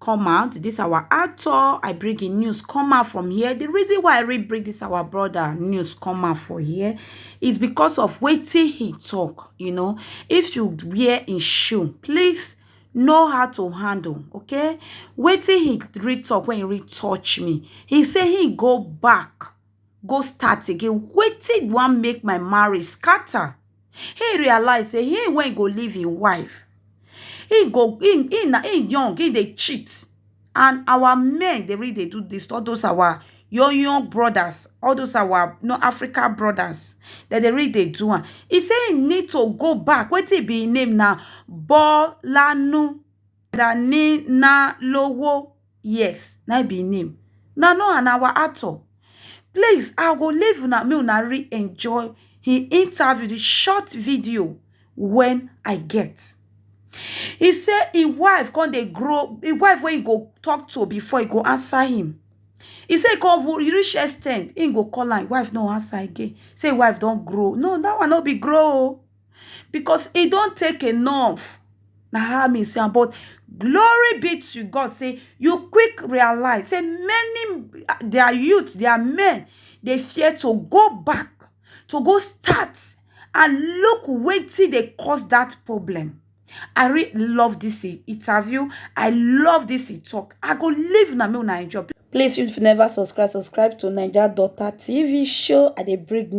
come out this our actor i bring him news come out from here the reason why i really bring this our brother news come out for here is because of waiting he talk you know if you wear in shoe please know how to handle okay waiting he read talk when he read touch me he say he go back go start again wetin wan make my marriage scatter him realize say him wey go leave him wife him go him him na him young him dey cheat and our men dey really dey do this all those our young young brothers all those our no africa brothers dem dey really dey do am he say he need to go back wetin be him name na bolanu Danilalowo yes na im be im name una know am na our actor please i go leave una make una really enjoy him interview the short video when i get he say him wife come dey grow him wife wey he go talk to before he go answer him he say he come even he reach extend he go call am him wife no answer again say him wife don grow no that one no be grow o. because e don take enough na how me see am but glory be to God say you quick realize say many their youth their men dey fear to go back to go start and look wetin dey cause that problem I really love this interview I love this talk I go leave una make una enjoy Please, if you never subscribe, subscribe to Naija Daughter TV show. I dey bring